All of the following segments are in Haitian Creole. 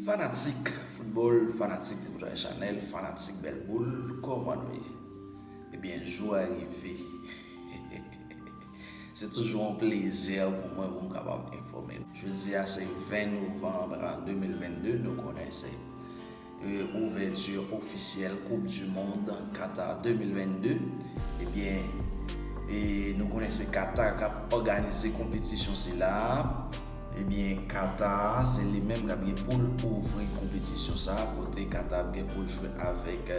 Fanatik foutbòl, fanatik Tripotay Chanèl, fanatik bèl boul, kòman nou ye? Ebyen jou a rive. Se toujou yon plezè pou mwen pou m kapab enfòme nou. Jodi a se 20 novanb 2022, nou konnen se. Ouvèti ofisyèl koup du mond Qatar 2022 ebyen e nou konnen se Qatar kap òganize konpetisyon sila ebyen Qatar se li menm kap gen poul ouvri konpetisyon sa kote Qatar ap gen poul jwe avèk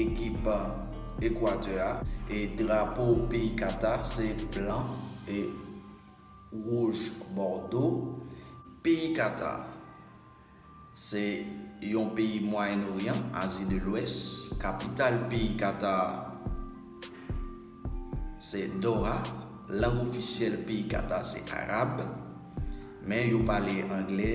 ekip Equateur a e drapo peyi Qatar se blan e wouj bòdo peyi Qatar. Se yon peyi Mwayen Oryan, Azi de Lwès. Kapital peyi Katar se Doha. Lang ofisyèl peyi Katar se Arab. Men yo pale Angle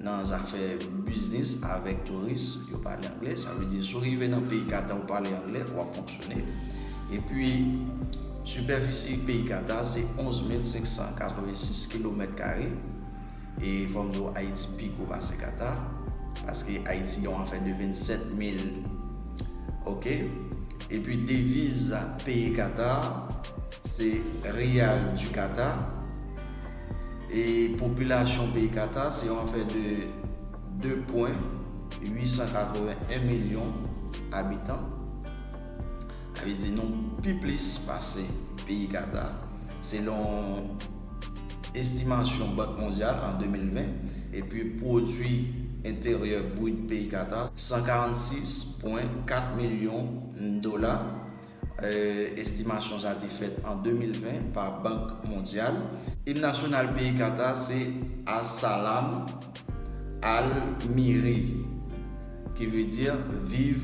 nan zafè biznis avèk touris. Yo pale Angle. Sa vle di si w rive nan peyi Katar ou pale Angle, w ap fonksyone. Epi, sipèfisi peyi Katar se 11 mil 586 kilomèt kare. E fòm di w Ayiti pi gwo pase Kata paske Ayiti gen yon afè de 27 mil ok epi deviz peyi Kata se Riyal di Kata e popilasyon peyi Kata se yon afè de 2 pwen 881 milyon abitan sa vle di nou pi plis pase peyi Kata selon estimasyon Bank Mondyal an 2020, epi pwodui enteryè brit peyi Qatar, 146,4 milyon dola, estimasyon sa te fèt an 2020 pa Bank Mondyal. Im nasyonal peyi Qatar se As-Salaam Al-Miri, ki vle di Viv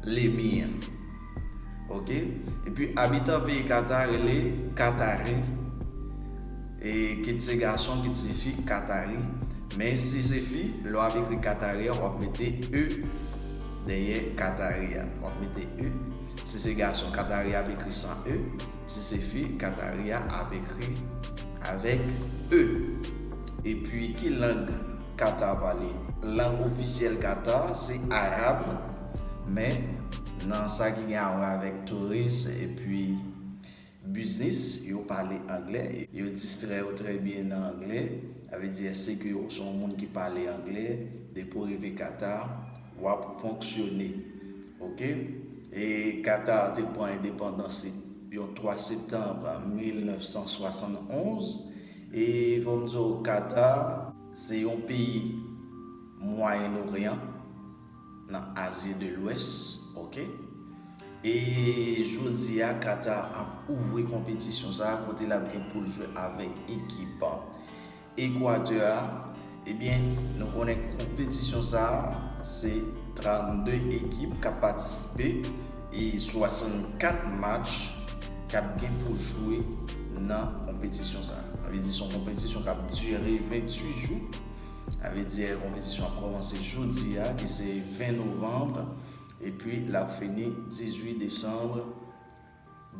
Lemir. ok epi abitan peyi Qatar rele Qatari e kit se gason kit se fi Qatari men si se fi lè wap ekri Qatari a wap mete e dèyè Qatari a wap mete e si se gason Qatari a ap ekri san e si se fi Qatari a ap ekri avèk e epi ki lang Qatar pale lang ofisyèl Qatar se Arab. Men, nan sa ki gen awè avèk touris epi biznis, yo pale angle. Yo distrè yo trè byen nan angle. Sa vle di èske ke ou se yon moun ki pale angle, depi w rive Qatar, w ap fonksyone. Ok. E Qatar te pran endepandans li yon 3 septanm 1971. E fò m di w Qatar se yon peyi Mwayen Oryan. nan Azi de Lwès ok e jodi a Qatar ap ouvri konpetisyon sa a kote lap gen poul jwe avèk ekip Ekwatè a ebyen nou konnen konpetisyon sa a se 32 ekip kap patisipe e 64 match kap gen pou jwe nan konpetisyon sa a sa vle di son konpetisyon kap dire 28 jou. Sa vle di konpetisyon ap kòmanse jodi a ki se 20 novanb epi l ap fini 18 desanm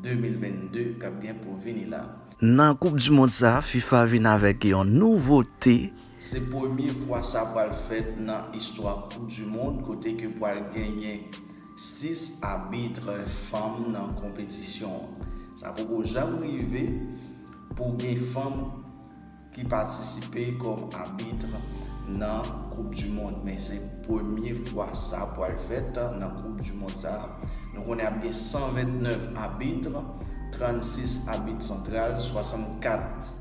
2022 k ap gen pou vini la. Nan koup di mond sa a, fifa vin avèk yon nouvote. Se premye fwa sa pral fèt nan istwa koup di mond kote ke pral genyen 6 abitre fanm nan konpetisyon an. Sa poko janm rive pou gen fanm. ki patisipe kòm abitre nan koup du mond men se premye fwa sa pwal fèt nan koup du mond sa nou konnen ap gen 129 abitre 36 abitre santral 64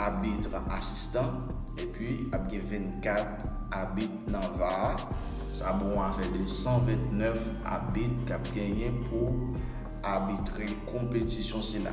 abitre asistan epi ap gen 24 abitre nan var sa bon afè de 129 abitre kap genyen pou abitre konpetisyon sila.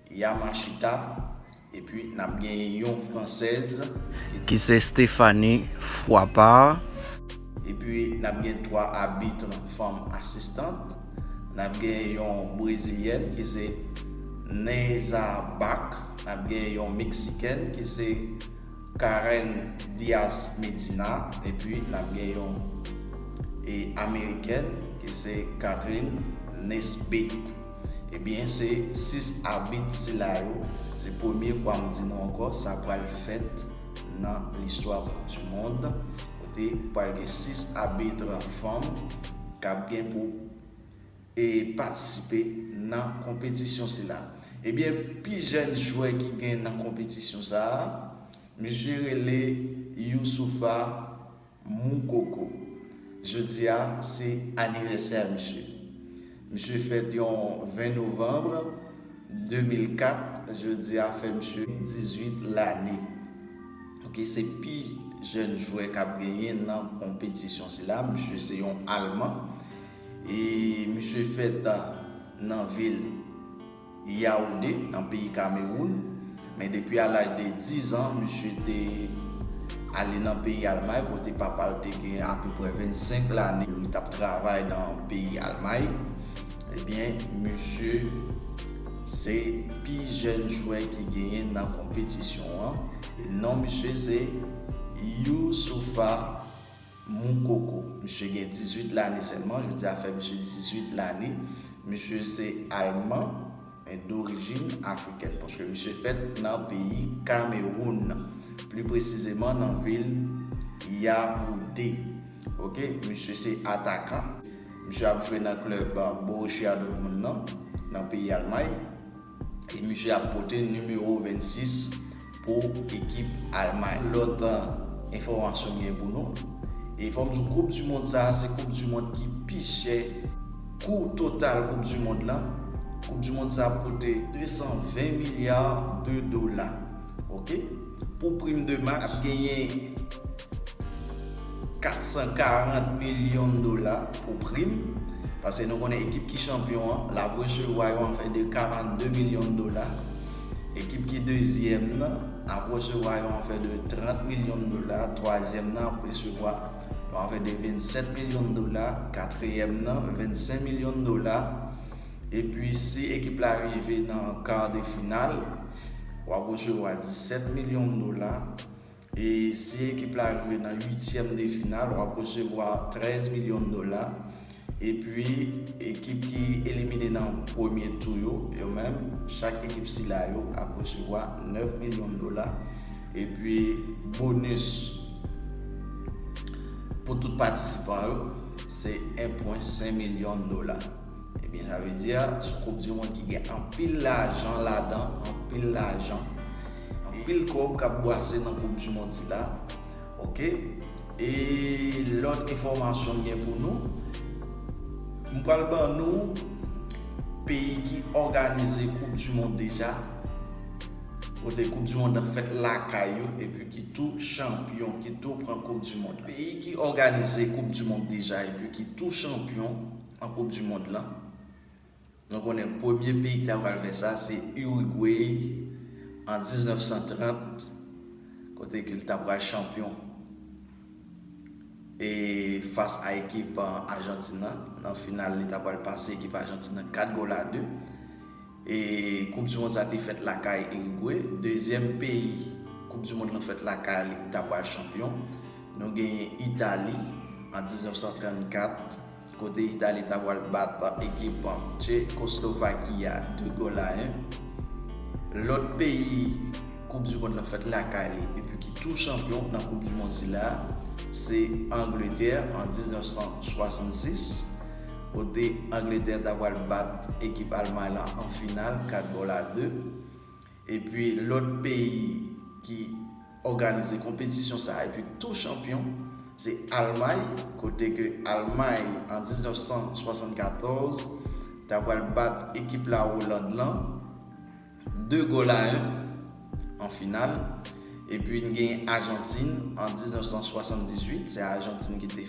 Yamashita, epi n ap genyen yon fransèz ki. Ki se Stephanie Froipart. Epi n ap gen twa abitre fanm asistant. N ap genyen yon brezilyèn ki se Neyza Back, n ap genyen yon meksikèn ki se Karen Diaz Medina, epi n ap gen yon amerikèn ki se Catherine Nesbitt. Ebyen se 6 abit sila yo, se premye fwa m di nou ankò sa pral fèt nan listwa koup di mond kote pral gen 6 abitre fanm k ap gen pou patisipe nan konpetisyon sila. Ebyen pi jèn jwè ki gen nan konpetisyon sa a, misye rele Youssoufa. Mou koko. Jodia se anivèsè misye. Misye fèt yon 20 novembre 2004 jodia fè misye 18 lane. Ok se pi jèn jwè kap genyen nan konpetisyon sila. Misye se yon alman e misye fèt nan vil. Yaoundé, nan peyi Kamewoun, men depi a laj de 10 an, misye te ale nan peyi Almay kote papa l te gen apeprè 25 lane li t ap travay nan peyi Almay. Ebyen, misye se pi jèn jwè ki genyen nan konpetisyon an. Non misye se Youssoupha Moukoko. Misye gen 18 lane sèlman, jodi a fè misye 18 lane. Misye se Alman, men dorijin Afrikèn, paske misye fèt nan peyi Kamewoun, pli presizeman nan vil Yawounde. Ok, misye se atakan. Misye ap jwe nan klèb Borussia Dortmund nan, nan peyi Almay. e misye ap pote nimewo 26 pou ekip Almay. Lòt enfòmasyon m gen pou nou, e fò m di w koup di mond sa se koup di mond ki pi chè, kou total koup di mond lan, koup di mond sa ap koute 220 milya de dola. Ok pou prim de match genyen 440 milyon dola pou prim pase nou konnen ekip ki chanpyon an lap resevwa yon afè de 42 milyon dola ekip ki dezyèm nan ap resevwa yon afè de 30 milyon dola twazyèm nan ap resevwa yon afè de 27 milyon dola katriyèm nan 25 milyon dola epi si ekip la rive nan kar de final w ap resevwa 17 milyon dola e si ekip la rive nan uityèm de final w ap resevwa 13 milyon dola epi ekip ki elimine nan premye tou yo yo menm chak ekip sila yo ap resevwa 9 milyon dola epi bonis pou tout patisipan yo se 1.5 milyon dola. Ebyen sa vle di a sou koup di mond ki gen anpil lajan ladan, anpil lajan, anpil kòb kap bwase nan koup di mond sila ok e lòt enfòmasyon m gen pou nou m pral ban nou peyi ki òganize koup di mond deja kote koup di mond nan fèt lakay yo epi ki tou chanpyon ki tou pran koup di mond la. Peyi ki òganize koup di mond deja epi ki tou chanpyon. an koup du mond lan nou konnen premye peyi ki ta pral fè sa se Uruguay an 1930 kote ke li ta pral chanpyon e fas a ekip Argentine lan nan final li ta pral pase ekip Argentine lan 4 gòl a 2 e koup du mond sa te fèt lakay Uruguay dezyèm peyi koup du mond lan fèt lakay li ki ta pral chanpyon nou genyen Italie an 1934. Kote Itali ta pwal bat ekip Tchekoslovaki a 2 gòl a 1. Lòt peyi koup du mond lan fèt lakay li epi ki tou chanpyon nan koup du mond sila a se Angletè an 1966 kote Angletè ta pwal bat ekip Almay lan an final 4 gòl a 2. Epi lòt peyi ki. òganize konpetisyon sa a epi tou chanpyon se Almay kote ke Almay an 1974 ta pral bat ekip la Oland lan 2 gòl a 1 an final epi n gen Ajantin an 1978 se Ajantin ki te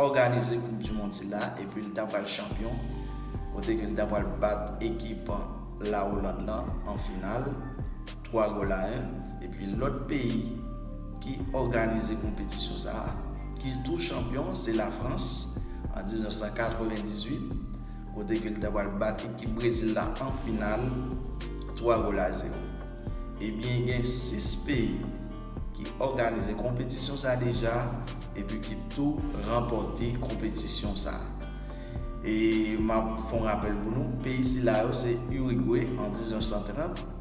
òganize koup di mond sila epi l ta pral chanpyon kote ke l ta pral bat ekip la Oland lan an final. 3 gola 1 epi lòt peyi ki òganize konpetisyon sa a ki tou chanpyon se Lafrans an 1998 kote ke li ta pral bat ekip Brezil la an final 3 gola 0. Ebyen gen 6 peyi ki òganize konpetisyon sa deja epi ki tou ranpòte konpetisyon sa a. E map fon rapèl pou nou peyi sila yo se Urigwe an 1930,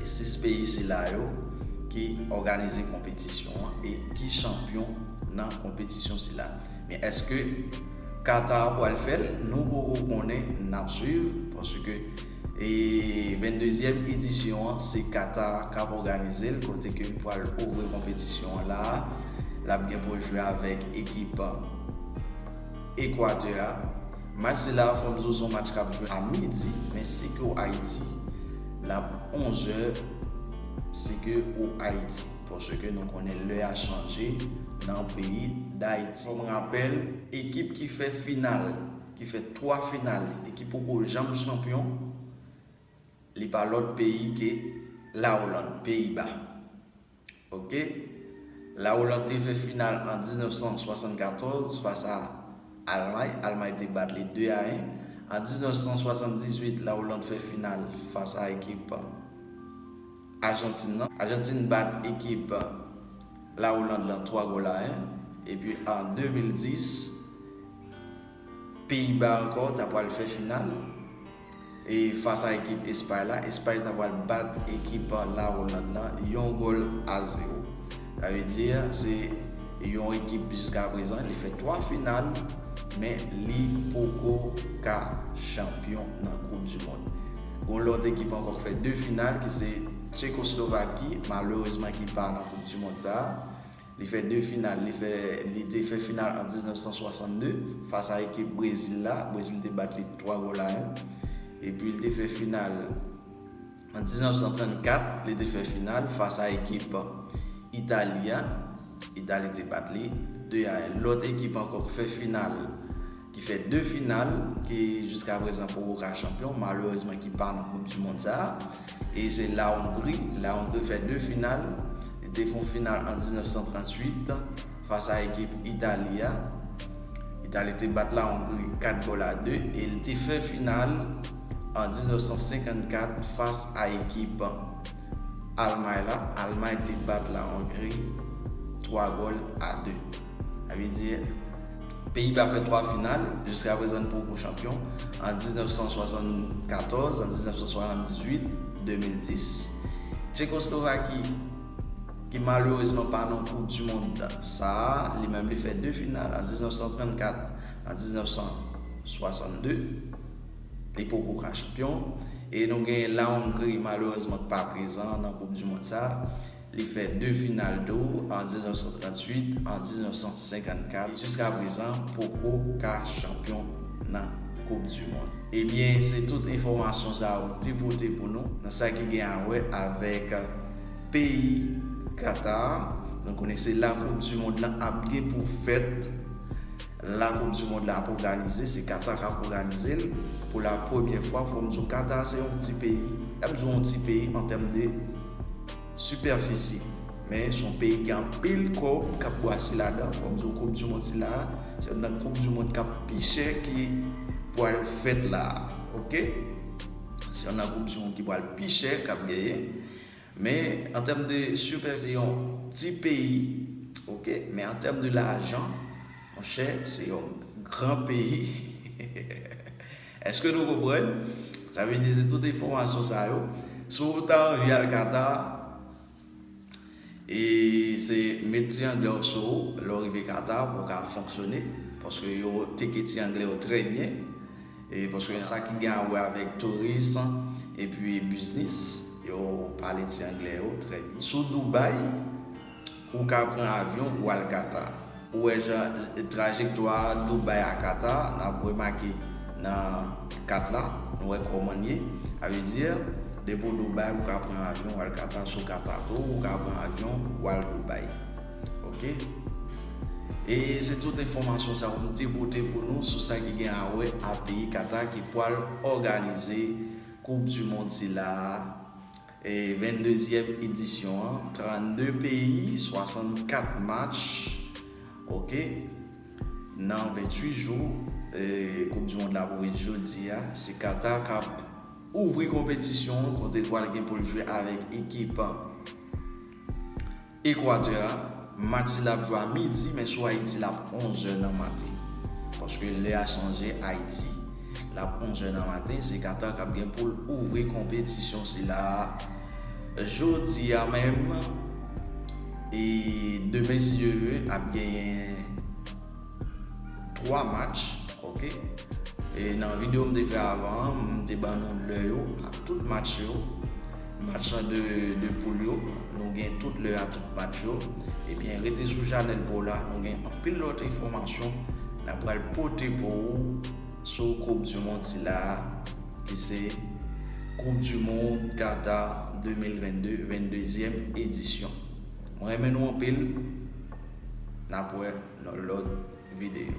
E 6 peyi sila yo ki òganize konpetisyon an e ki chanpyon nan konpetisyon sila. Men èske Qatar pwal fèl? Nou poko konnen, nap swiv paske e 22 zièm edisyon an se Qatar kap òganizel kote ke pwal ouvri konpetisyon an la a. Lap gen poul jwe avèk ekip Equateur a. Match sila fò n zo son match kap jwe a midi men si ke w ayiti lap 11 zè si ke w ayiti paske nou konnen lè a chanje nan peyi dayiti. Kòm rapèl ekip ki fè final ki fè 3 final li e ki poko janm chanpyon li pa lòt peyi ke la Oland, peyi ba. Ok. La Hollande te fè final an 1974 fas a Almay. Almay te bat li 2 a 1. An 1978 la Hollande fè final fas a ekip Ajantin lan. Ajantin bat ekip la Hollande lan 3 gòl a 1. Epi an 2010 Peyi Ba ankò ta pwal fè final. E fas a ekip Espay la, Espay ta pral bat ekip La Oland lan yon gòl a zewo. Sa vle di se yon ekip jiskaprezan li fè 3 final men li poko ka chanpyon nan koup di mond. Gon lòt ekip ankò k fè 2 final ki se Tchekoslovaki malerezman ki pa nan koup di mond sa a. Li fè 2 final, li fè, li te fè final an 1962 fas a ekip Brezil la, Brezil te bat li 3 gòl a 1. Epi li te fè final an 1934, li te fè final fas a ekip Itali a, Itali te bat li 2 a 1. Lòt ekip ankò k fè final. ki fè 2 final ke jiska prezan poko ka chanpyon malerezman ki pa nan koup di mond sa a e se la Hongri la Hongri fè 2 final li te fon final an 1938 fas a ekip Itali a Itali te bat la Hongri 4 gòl a 2 e li te fè final an 1954 fas a ekip Almay la Almay te bat la Hongri 3 gòl a 2. Sa vle di, Peyiba fè 3 final, jiska prezan n poko chanpyon, an 1974, an 1978, 2010. Tchekoslovaki, ki malerezman pa nan koup du mond sa a, li menm li fè 2 final, an 1934, an 1962. Li poko ka chanpyon. E nou gen Lahongri malerezman k pa prezan nan koup du mond sa a. Li fè 2 final tou, an 1938, an 1954. Jiska prezan poko ka chanpyon nan koup du mond. Ebyen se tout enfòmasyon sa yo te pote pou nou nan sa ki gen a wè avèk peyi Qatar. Nou konnen se la koup du mond lan ap gen pou fèt. La koup du mond la ap oganize se Qatar kap oganize l pou la premye fwa fòm di w Qatar se yon ti peyi lèm di w yon ti peyi an tèm de sipèfisi men son peyi ki gen anpil kòb kap bwase ladan fòm di w koup du mond sila se yon nan koup du mond kap pi chè ki pwal fèt la ok se yon nan koup du mond ki pwal pi chè kap genyen Men an tèm de Super se yon ti peyi ok men an tèm de lajan monchè se yon gran peyi eske nou konprann sa vle di se tout enfòmasyon sa yo si w ta anvi al Qatar e se met ti anglè w sou ou lè w rive Qatar pou w ka fonksyone paske yo teke ti anglè w trè byen. Paske nan sa ki gen a wè avèk touris epi biznis, yo pale ti anglè yo trè byen. Sou Dubai, ou ka pran avyon ou al Qatar. Ou wè jan trajektwa Dubai a Qatar, n ap remake nan kat la, nou wè kòman l ye. Sa vle di, depi w Dubai, ou ka pran avyon ou al Qatar, sou Qatar tou, ou ka pran avyon ou al Dubai. Ok. E se tout enfòmasyon sa ou te pote pou nou sou sa ki gen awè a peyi Qatar ki pwal òganize koup du mond sila a e 22 zièm edisyon an 32 peyi 64 match ok nan 28 jou e koup du mond la pou vin jodi a se Qatar kap ouvri konpetisyon an kote pwal gen poul jwe avèk ekip. Ekwatè a, match sila ap jwe a midi men sou Ayiti l ap 11 zè nan maten. Paske lè a chanje Ayiti. L ap 11 zè nan maten, se Qatar k ap gen pou l ouvri konpetisyon sila a jodi a menm e demen si Dye ve ap genyen. 3 match ok e nan video m te fè avan an m te ban nou lè yo ak tout match yo match an de, de poul yo nou gen tout lè a tout match yo ebyen rete sou chanèl pou la nou gen anpil lòt enfòmasyon n ap pral pote pou ou sou koup di mond sila a ki se koup di mond Qatar 2022 22 dyèm edisyon mwen renmen nou anpil n ap wè. nan lòt videyo.